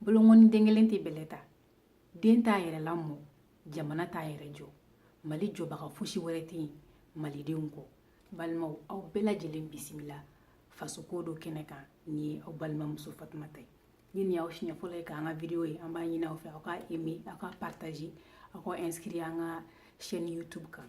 bolonkɔni den kelen tɛ bɛlɛ ta den t'a yɛrɛ lamɔ jamana t'a yɛrɛ jɔ mali jɔbaga fosi wɛrɛ tɛ yen malidenw kɔ balimaw aw bɛɛ lajɛlen bisimila fasoko do kɛnɛ kan ne ye aw balimamuso fatumata ye ni nin y'aw siɲɛ fɔlɔ ye k'an ka video ye an b'a ɲini aw fɛ aw ka aime aw ka partager aw ka inscrit an ka chaîne youtube kan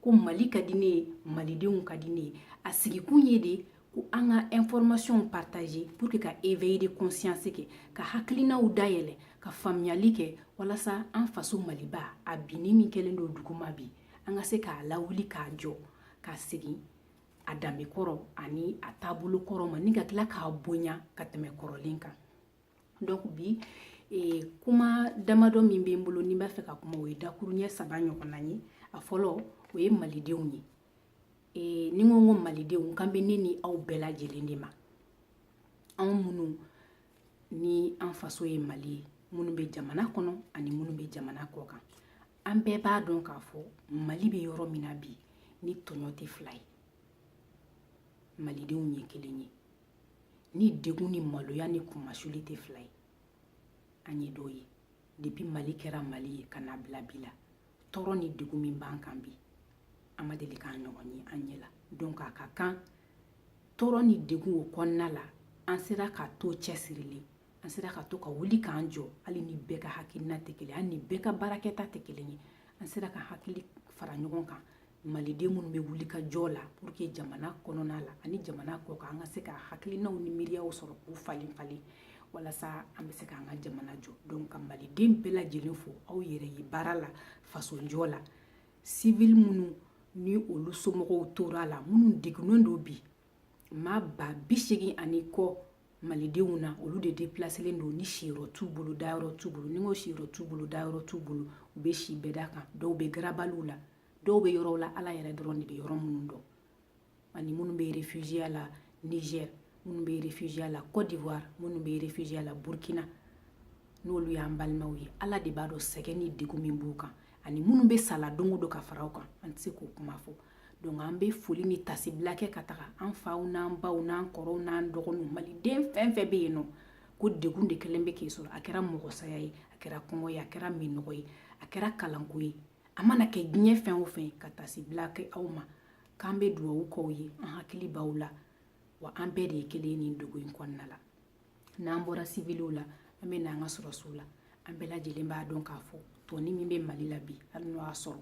ko mali ka di ne ye malidenw ka di ne ye a sigikun ye de ko an ka information partager pour que ka éveil de conscience kɛ ka hakilinaw dayɛlɛ ka faamuyali kɛ walasa an faso maliba a binni min kɛlen don duguma bi an ka se k'a lawuli k'a jɔ k'a segin a danbe kɔrɔ ani a taabolo kɔrɔ ma ni ka tila k'a bonya ka tɛmɛ kɔrɔlen kan donc bi e, kuma damadɔ min bɛ n bolo ni n b'a fɛ ka kuma o ye dakuruɲɛ saba ɲɔgɔnna ye a fɔlɔ o ye malidenw ye e, ni n ko n ko malidenw n kan bɛ ne ni aw bɛɛ lajɛlen de ma anw minnu ni an faso ye mali ye minnu bɛ jamana kɔnɔ ani minnu bɛ jamana kɔ kan an bɛɛ b'a dɔn k'a fɔ mali bɛ yɔrɔ min na bi ni tɔɲɔ tɛ fila ye malidenw ye kelen ye ni degun ni maloya ni kunmasuli tɛ fila ye an ye dɔ ye depuis mali kɛra mali ye ka n'a bila bi la tɔɔrɔ ni degun min b'an kan bi an ma deli k'a ɲɔgɔn ye an ɲɛ la donc a ka kan tɔɔrɔ ni degun o kɔnɔna la an sera ka to cɛsirilen an sera ka to ka wuli k'an jɔ hali ni bɛɛ ka hakilina tɛ kelen hali ni bɛɛ ka baarakɛta tɛ kelen ye an sera ka hakili fara ɲɔgɔn kan maliden minnu bɛ wulikajɔ la pour que jamana kɔnɔna la ani jamana kɔ kan an ka se ka hakilinaw ni miiriyaw sɔrɔ k'u falen falen walasa an bɛ se k'an ka jamana jɔ donc ka maliden bɛɛ lajɛlen fo aw yɛrɛ ye baara la fasojɔ la sivili minnu ni olu somɔgɔw tora la minnu degunnen don bi maa ba bi segin ani kɔ malidenw na olu de depilaselen don ni siyɔrɔ t'u bolo dayɔrɔ t'u bolo ni n ko siyɔrɔ t'u bolo dayɔrɔ t'u bolo u bɛ si bɛda kan dɔw bɛ garabaliw la dɔw bɛ yɔrɔw la ala yɛrɛ dɔrɔn de bɛ yɔrɔ minnu dɔn ani minnu bɛ refugiya la niger minnu bɛ refugiya la cote d'ivoire minnu bɛ refugiya la burkina n'olu y'an balimaw ye ala de b'a dɔn sɛgɛn ni degun min b'u kan ani minnu bɛ sa la don o don ka fara u kan an tɛ se k'o kuma fɔ donc an bɛ foli ni taasibila kɛ ka taga an faw n'an baw n'an kɔrɔw n'an dɔgɔninw maliden fɛn fɛn bɛ yen n'o ko degun de kɛlen bɛ k'i sɔrɔ a kɛra mɔgɔsaya ye a kɛra kɔngɔ ye a kɛra minnɔgɔ ye a kɛra kalanko ye a mana kɛ diɲɛ fɛn o fɛn ka tasibila kɛ aw ma k'an bɛ dugawu k'aw ye an hakili b'aw la wa an bɛɛ de ye kelen ye nin degun in kɔnɔna la n'an bɔra siviliw la an bɛ na an ka sɔrɔsiw la an bɛɛ lajɛlen b'a dɔn k'a fɔ tɔni min bɛ mali la bi hali n'o y'a sɔrɔ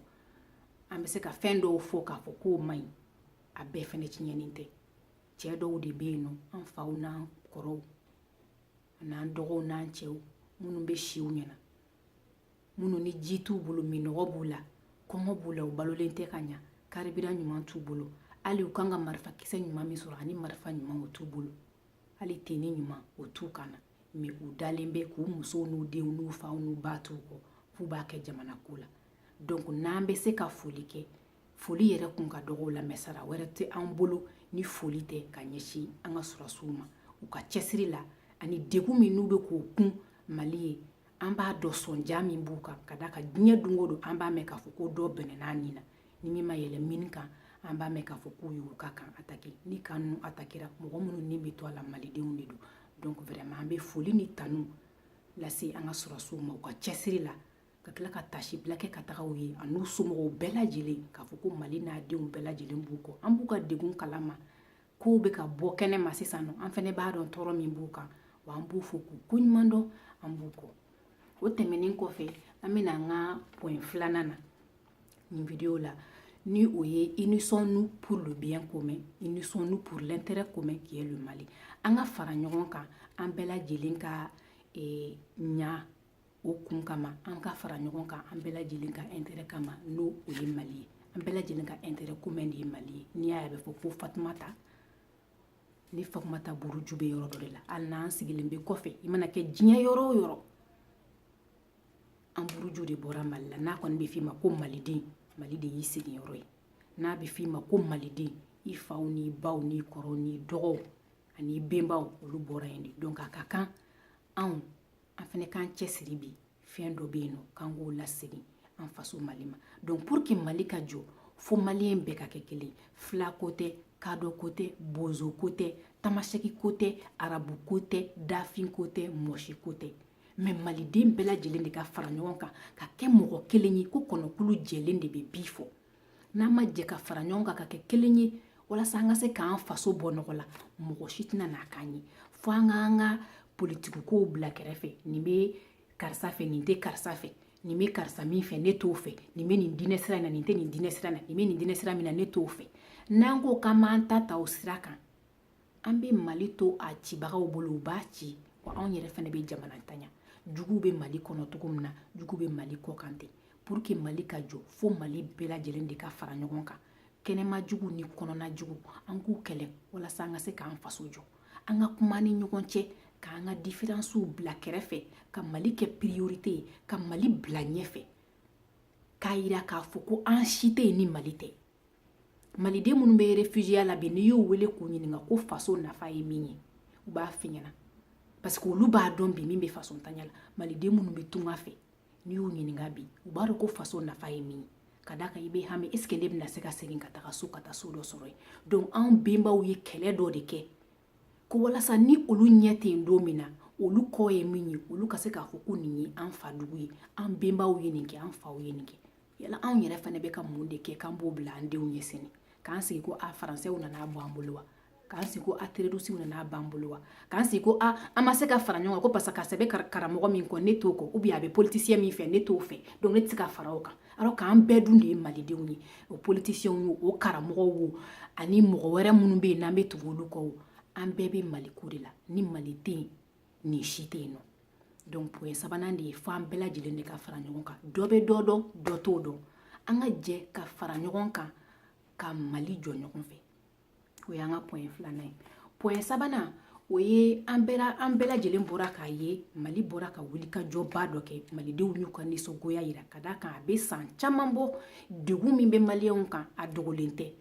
an bɛ se ka fɛn dɔw fɔ k'a fɔ k'o man ɲi a bɛɛ fɛnɛ tiɲɛnen tɛ cɛ dɔw de bɛ yen nɔ an faw n'an kɔrɔw n'an dɔgɔw n'an cɛw minnu bɛ si u ɲɛ na minnu ni ji t'u bolo minɔgɔ b'u la kɔngɔ b'u la u balolen tɛ ka ɲa karibira ɲuman t'u bolo hali u kan ka marifa kisɛ ɲuman min sɔrɔ ani marifa ɲuman o t'u bolo hali teni ɲuman o t'u kan na mais u dalen bɛ k'u musow n'u denw n'u faw n'u baw t'u kɔ f'u b'a kɛ jamana ko la donc n'an bɛ se ka foli kɛ foli yɛrɛ kun ka dɔgɔ u la mais sara wɛrɛ tɛ an bolo ni foli tɛ ka ɲɛsin an ka sɔrɔsiw ma u ka cɛsiri la ani degun min n'u bɛ k'o kun mali ye an b'a dɔn sɔnja min b'u kan ka d'a kan diɲɛ don o don an b'a mɛn k'a fɔ ko dɔ bɔnɛn'a ni na ni min ma yɛlɛ mini kan an b'a mɛn k'a fɔ k'u y'u ka kan atake ni kan ninnu atakera mɔgɔ minnu ni bɛ to a la malidenw de don donc vraiment an bɛ foli ni tanu lase an ka sɔrɔsiw ma u ka cɛsiri la ka tila ka tasibila kɛ ka taga u ye an'u somɔgɔw bɛɛ lajɛlen k'a fɔ ko mali n'a denw bɛɛ lajɛlen b'u kɔ an b'u ka degun kalama kow bɛ ka bɔ kɛnɛ ma sisan nɔ an fɛnɛ b'a dɔn tɔɔrɔ min b'u kan wa an b'u fo k'u koɲuman dɔn an b'u kɔ o tɛmɛnen kɔfɛ an bɛ na an ka point filanan na nin video la ni o ye unissons-nous pour le bien commun unissons-nous pour l'intérêt commun qui est le mali an ka fara ɲɔgɔn kan an bɛɛ lajɛlen ka eh, ɲa o kun kama an ka fara ɲɔgɔn kan an bɛɛ lajɛlen ka intérêt kama n'o o ye mali ye an bɛɛ lajɛlen ka intérêt commun de ye mali ye n'i y'a ye a bɛ fɔ ko fatumata ni fatumata buruju bɛ yɔrɔ dɔ de la hali n'an sigilen bɛ kɔfɛ i mana kɛ diɲɛ yɔrɔ o yɔrɔ an buruju de bɔra mali la n'a kɔni bɛ f'i ma ko maliden mali de y'i sigiyɔrɔ ye n'a bɛ f'i ma ko maliden i faw n'i baw n'i kɔrɔw n'i dɔgɔw an'i benbaw olu bɔra yen de donc a ka kan anw an fɛnɛ k'an cɛsiri bi fɛn dɔ bɛ yen nɔ k'an k'o lasegin an faso mali ma donc pour que mali ka jɔ fo maliyɛn bɛɛ ka kɛ kelen fila ko tɛ kadɔ ko tɛ bozo ko tɛ tamasɛki ko tɛ arabu ko tɛ dafin ko tɛ mɔsi ko tɛ mais maliden bɛɛ lajɛlen de ka fara ɲɔgɔn kan ka kɛ mɔgɔ kelen ye ko kɔnɔkulu jɛlen de bɛ bi fɔ n'an ma jɛ ka fara ɲɔgɔn kan ka kɛ kelen ye walasa an ka se k'an faso bɔ nɔgɔ la mɔgɔ si tɛna n'a k'an ye fo an k'an ka politikow bila kɛrɛfɛ nin bɛ karisa fɛ nin tɛ karisa fɛ nin bɛ karisa min fɛ ne t'o fɛ nin bɛ nin diinɛ sira in na nin tɛ nin diinɛ sira in na nin bɛ nin diinɛ sira min na ne t'o fɛ n'an ko k'an b'an ta ta o sira kan an bɛ mali to a cibagaw bolo u b'a ci wa anw yɛrɛ fana bɛ jamana tanya juguw bɛ mali kɔnɔ cogo min na jugu bɛ mali kɔ kan ten pour que mali ka jɔ fo mali bɛɛ lajɛlen de ka fara ɲɔgɔn kan kɛnɛma jugu ni kɔnɔna jugu an k'u kɛlɛ walasa an ka se k'an faso jɔ an ka kuma ni ɲɔgɔn cɛ k'an ka diferansiw bila kɛrɛfɛ ka mali kɛ priorite ye ka mali bila ɲɛfɛ k'a yira k'a fɔ ko an si tɛ yen ni mali tɛ maliden minnu bɛ refugiya la bi n'i y'u wele k'u ɲininka ko faso nafa ye min ye u b'a f'i ɲɛna parce que olu b'a dɔn bi min bɛ faso ntanya la maliden minnu bɛ tunga fɛ n'i y'u ɲininka bi u b'a dɔn ko faso nafa ye min ye ka d'a kan i bɛ hami est ce que ne bɛna se ka segin ka taga so ka taa so dɔ sɔrɔ yen donc anw benbaw ye kɛlɛ dɔ de kɛ ko walasa ni olu ɲɛ tɛ yen don min na olu kɔ ye min ye olu ka se k'a fɔ ko nin ye an fa dugu ye an benbaw ye nin kɛ an faw ye nin kɛ yala anw yɛrɛ fana bɛ ka mun de kɛ k'an b'o bila an denw ye sini k'an sigi ko a faransɛw nana bɔ an bolo wa k'an sigi ko a terɔrisiw nana b'an bolo wa k'an sigi ko a an ma se ka fara ɲɔgɔn kan ko parce que a cɛ bɛ karamɔgɔ min kɔ ne t'o kɔ ou bien a bɛ politisiyɛn min fɛ ne t'o fɛ donc ne tɛ se ka fara o kan alors k'an bɛɛ dun de ye malidenw ye o politisiyɛnw wo o karamɔgɔw wo ani mɔgɔ wɛrɛ minnu bɛ yen n'an bɛ tugu olu kɔ wo an bɛɛ bɛ maliko de la ni mali tɛ yen nin si tɛ yen nɔ donc point sabanan de ye fo an bɛɛ lajɛlen de ka fara ɲɔgɔn kan dɔ bɛ dɔ dɔn dɔ t'o dɔn an ka jɛ ka fara ɲɔgɔn kan ka mali jɔ ɲɔgɔn fɛ o y'an ka point filanan ye point sabanan o ye an bɛɛ an bɛɛ lajɛlen bɔra k'a ye mali bɔra ka wulikajɔba dɔ kɛ malidenw y'u ka nisɔngoya yira ka d'a kan a bɛ san caman bɔ degun min bɛ maliyɛnw kan a dogolen tɛ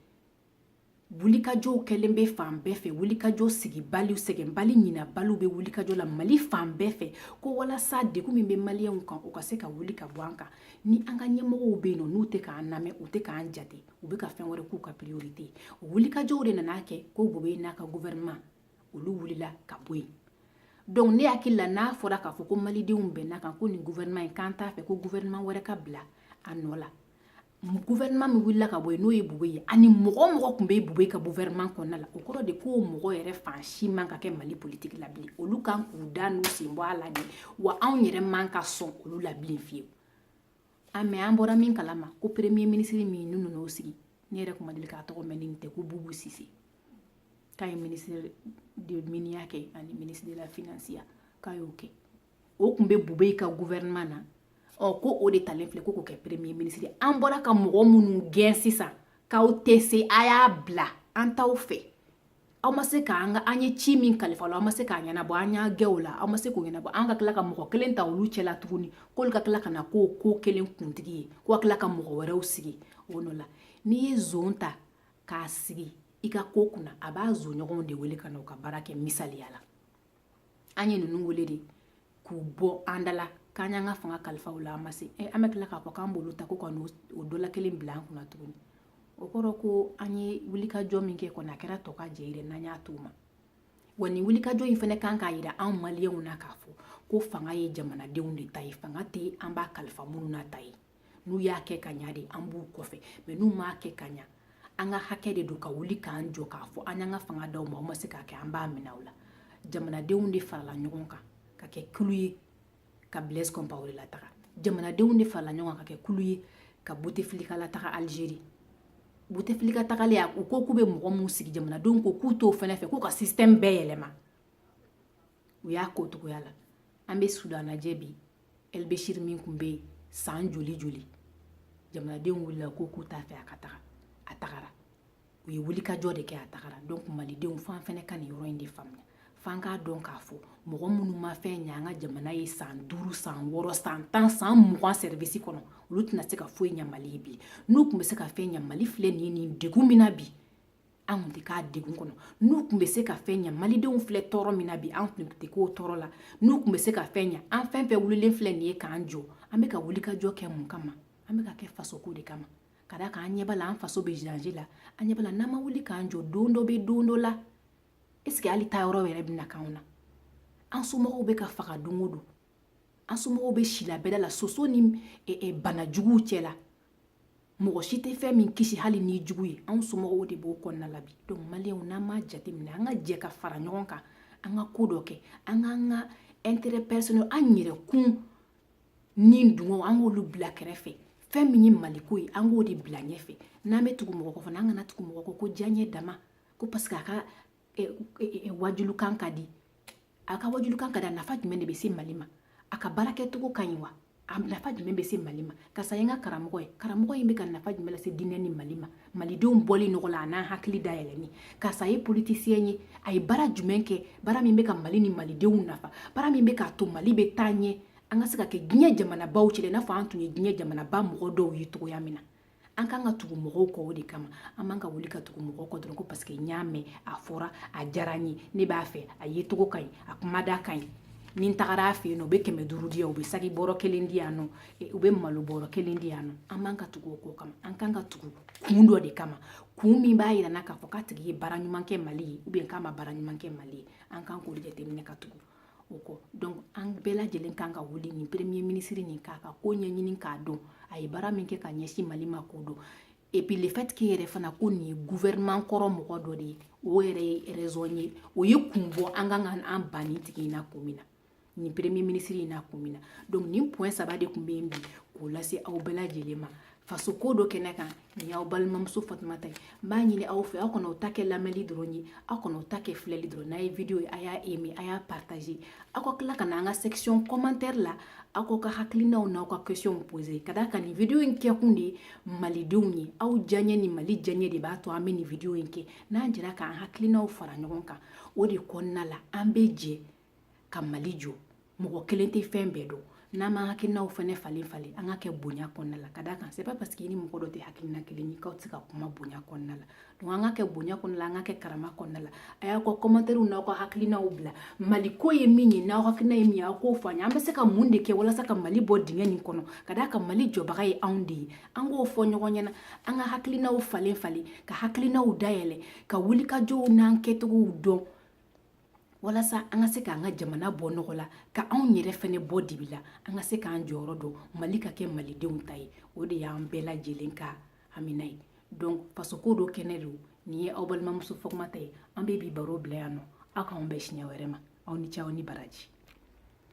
wulikajɔw kɛlen bɛ fan bɛɛ fɛ wulikajɔ sigibaliw sɛgɛnbali ɲinabaliw bɛ wulikajɔ la mali fan bɛɛ fɛ ko walasa degun min bɛ maliyɛnw kan o ka se ka wuli ka bɔ an kan ni an ka ɲɛmɔgɔw bɛ yen nɔ n'u tɛ k'an lamɛn u tɛ k'an jate u bɛ ka fɛn wɛrɛ k'u ka priorite ye o wulikajɔw de nana kɛ ko bubɛyi n'a ka gouvernement olu wulila ka bɔ yen donc ne hakili la n'a fɔra k'a fɔ ko malidenw bɛnna kan ko nin gouvernement in k'an t'a fɛ ko gouvernement wɛrɛ ka bila a nɔ la gouvernement min wulila ka bɔ yen n'o ye bubɛyi ye ani mɔgɔ o mɔgɔ tun bɛ bubɛyi ka gouvernement kɔnɔna la o kɔrɔ de k'o mɔgɔ yɛrɛ fan si man ka kɛ mali politiki la bilen olu kan k'u da n'u sen bɔ a la de wa anw yɛrɛ man ka sɔn olu la bilen fiyewu a mais an bɔra min kalama ko premier ministre min n'u nana o sigi ne yɛrɛ tun ma deli k'a tɔgɔ mɛn nin tɛ ko bubu sise k'a ye ministre de miniya kɛ ani ministre de la finansiya k'a y'o kɛ o tun bɛ boubèye ka gouvernement na ɔ ko o de talen filɛ ko k'o kɛ premier ministre ye an bɔra ka mɔgɔ minnu gɛn sisan k'aw tɛ se a y'a bila an t'aw fɛ aw ma se k'an ka an ye ci min kalifa aw la aw ma se k'a ɲɛnabɔ an y'aw gɛn o la aw ma se k'o ɲɛnabɔ an ka tila ka mɔgɔ kelen ta olu cɛla tuguni k'olu ka tila ka na k'o ko kelen kuntigi ye ko ka tila ka mɔgɔ wɛrɛw sigi o nɔ la n'i ye zon ta k'a sigi i ka ko kunna a b'a zonɲɔgɔnw de wele ka na u ka baara kɛ misaliya la an ye ninnu wele de k'u bɔ an da la k'an y'an ka fanga kalifa aw la aw ma se eh, an bɛ tila k'a fɔ k'an b'olu ta ko ka n'o dɔ la kelen bila an kunna tuguni o kɔrɔ ko an ye wulikajɔ min kɛ kɔni a kɛra tɔkajɛ yɛrɛ n'an y'a t'o ma wa nin wulikajɔ in fana kan k'a yira anw maliyɛnw na k'a fɔ ko fanga ye jamanadenw de ta ye fanga tɛ an b'a kalifa minnu na ta ye n'u y'a kɛ ka ɲa de an b'u kɔfɛ mais n'u m'a kɛ ka ɲa an ka hakɛ de don ka wuli k'an jɔ k'a fɔ an y'an ka fanga d'aw ma aw ma se k'a kɛ an b'a minɛ aw la jamanadenw de farala ɲɔgɔn kan ka kɛ kulu ye ka blaise compaoré lataga jamanadenw de farala ɲɔgɔn kan ka kɛ kulu ye ka bouteflika lataga algérie bouteflika tagalen a u ko k'u bɛ mɔgɔ minnu sigi jamanadenw ko k'u t'o fɛnɛ fɛ k'u ka système bɛɛ yɛlɛma u y'a ko togoya la an bɛ soudan lajɛ bi el béchir min tun bɛ yen san joli joli jamanadenw wulila ko k'u t'a fɛ a ka taga a tagara u ye wulikajɔ de kɛ a tagara donc malidenw f'an fɛnɛ ka nin yɔrɔ in de faamuya f'an k'a dɔn k'a fɔ mɔgɔ minnu ma fɛn ɲɛ an ka jamana ye san duuru san wɔɔrɔ san tan san mugan service kɔnɔ olu tɛna se ka foyi ɲɛ mali ye bi n'u tun bɛ se ka fɛn ɲɛ mali filɛ nin ye nin degun min na bi an kun tɛ k'a degun kɔnɔ n'u tun bɛ se ka fɛn ɲa malidenw filɛ tɔɔrɔ min na bi an tun tɛ k'o tɔɔrɔ la n'u tun bɛ se ka fɛn ɲa an fɛn fɛn wulilen filɛ nin ye k'an jɔ an bɛ ka wulikajɔ kɛ mun kama an bɛ k'a kɛ fasoko de kama ka d'a kan an ɲɛ b'a la an faso bɛ danger la an ɲɛ b'a la n'an ma wuli k'an jɔ don dɔ bɛ don dɔ la est-ce que hali taayɔrɔ yɛrɛ bɛna k'anw na an somɔgɔw bɛ ka faga don o don an somɔgɔw bɛ si la bɛda la soso ni e, e, banajuguw cɛ la mɔgɔ si tɛ fɛn min kisi hali n'i jugu ye anw somɔgɔw de b'o kɔnɔna la bi donc maliyɛnw n'an m'a jateminɛ an ka jɛ ka fara ɲɔgɔn kan an ka ko dɔ kɛ an k'an ka intérêt personnel an yɛrɛkun nidungɔw an k'olu bila kɛrɛfɛ fɛn min ye maliko ye an k'o de bila ɲɛfɛ n'an bɛ tugu mɔgɔ kɔ fana an kana tugu mɔgɔ kɔ ko diyaɲɛ dama ko parce que a ka eh, eh, eh, wajulikan ka di a ka wajulikan ka di a nafa jumɛn de bɛ se mali ma a ka baarakɛcogo ka ɲi wa a nafa jumɛn bɛ se mali ma karisa ye n ka karamɔgɔ ye karamɔgɔ in bɛ ka nafa jumɛn lase diinɛ ni mali ma malidenw bɔli nɔgɔ la a n'an hakili dayɛlɛni karisa ye politicien ye a ye baara jumɛn kɛ baara min bɛ ka mali ni malidenw nafa baara min bɛ k'a to mali bɛ taa ɲɛ an ka se ka kɛ diɲɛ jamanabaw cɛ i n'a fɔ an tun ye diɲɛ jamanaba mɔgɔ dɔw ye cogoya min na an kan ka tugu mɔgɔw kɔ o de kama an man ka wuli ka tugu mɔgɔw kɔ dɔrɔn ko paseke n y'a mɛn a fɔra a diyara n ye ne b'a fɛ a yecogo ka ɲi a kumada ka ɲi ni n tagara a fɛ yen nɔ u bɛ kɛmɛ duuru di yan u bɛ saki bɔrɔ kelen di yan nɔ e, u bɛ malo bɔrɔ kelen di yan nɔ an man ka tugu o kɔ kama an kan ka tugu kun dɔ de kama kun min b'a yira n na k'a fɔ k'a tigi ye baara ɲuman kɛ mali ye ubiyɛn k'a ma baara ɲuman kɛ mali ye an kan k'o de jateminɛ ka tugu o kɔ donc an bɛɛ lajɛlen kan ka wuli nin premier ministre nin k'a ka ko ɲɛɲini k'a dɔn a ye baara min kɛ ka ɲɛsin mali ma k'o dɔn et puis le fait que yɛrɛ fana ko nin ye gouvernement kɔrɔ mɔgɔ dɔ de ye o yɛrɛ ye raison ye o ye kun bɔ an kan ka an ban nin tigi in na kun min na nin premier ministre in na kun min na donc nin point saba de tun bɛ yen bi k'o lase aw bɛɛ lajɛlen ma fasoko dɔn kɛnɛ kan nin y'aw balimamuso fatumata ye n b'a ɲini aw fɛ aw kana aw ta kɛ lamɛnli dɔrɔn ye aw kana aw ta kɛ filɛli dɔrɔn n'a ye video ye a y'a aimer a y'a partager aw ka tila ka na an ka section commentaire la aw k'aw ka hakilinaw n'aw ka questionw poser ka d'a kan nin video in kɛkun de ye malidenw ye aw diyaɲɛ ni mali diyaɲɛ de b'a to an bɛ nin video in kɛ n'an jɛra k'an hakilinaw fara ɲɔgɔn kan o de kɔnɔna la an bɛ jɛ ka mali jɔ mɔgɔ kelen tɛ fɛn bɛɛ dɔn n'an b'an hakilinaw fɛnɛ falen falen an k'a kɛ bonya kɔnɔna la ka d'a kan c'est pas parce que i ni mɔgɔ dɔ tɛ hakilina kelen ye k'aw tɛ se ka kuma bonya kɔnɔna la donc an k'a kɛ bonya kɔnɔna la an k'a kɛ karama kɔnɔna la a y'aw ka kɔmantɛriw n'aw ka hakilinaw bila mali ko ye min ye n'aw hakilina ye min ye aw k'o fɔ an ye an bɛ se ka mun de kɛ walasa ka mali bɔ dingɛ nin kɔnɔ ka d'a kan mali jɔbaga ye anw de ye an k'o fɔ ɲɔgɔn ɲɛna an ka hakilinaw falen falen ka hakilinaw dayɛlɛ ka wulikajɔw n'an kɛcogow dɔn walasa an ka se k'an ka jamana bɔ nɔgɔ la ka anw yɛrɛ fɛnɛ bɔ dibi la an ka se k'an jɔyɔrɔ dɔn mali ka kɛ malidenw ta ye o de y'an bɛɛ lajɛlen ka hamina ye donc fasoko dɔn kɛnɛ don nin ye aw balimamuso fatumata ye an bɛ bi baro bila yan nɔ aw k'anw bɛn siɲɛ wɛrɛ ma aw ni ce aw ni baraji